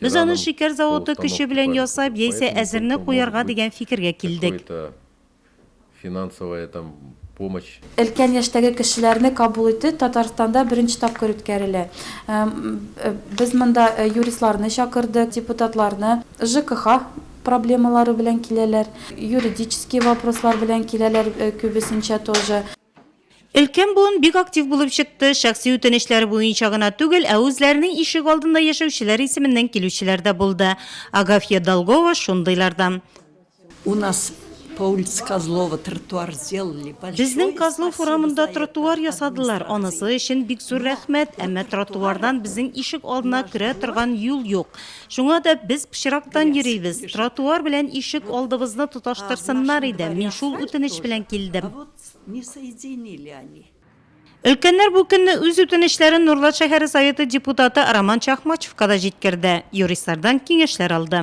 Без аны шикәр заводы көче белән ясап яисә әзерне куярга дигән фикергә килдек. Өлкән яшьтәге кешеләрне кабул итү Татарстанда беренче тапкыр үткәрелә. Без монда юристларны чакырдык, депутатларны. ЖКХ проблемалары белән киләләр, юридический вопрослар белән киләләр күбесенчә тоже. Өлкән буын бик актив булып чыкты, шәхси үтенечләре буенча гына түгел, ә үзләренең ишек алдында яшәүчеләр исеменнән килүчеләр дә булды. Агафья Долгова шундыйлардан. У нас по улице Козлова тротуар сделали большой. Безнең Козлов урамында тротуар ясадылар, анысы өчен бик зур рәхмәт, әмма тротуардан безнең ишек алдына керә торган юл юк. Шуңа да без пычрактан йөрибез. Тротуар белән ишек алдыбызны тоташтырсыннар иде, мин шул үтенеч белән килдем. Не соединили они. Өлкәннәр бу көнне үз үтенечләрен Нурлат шәһәре Советы депутаты Роман Чахмачевка да җиткерде, юристлардан киңәшләр алды.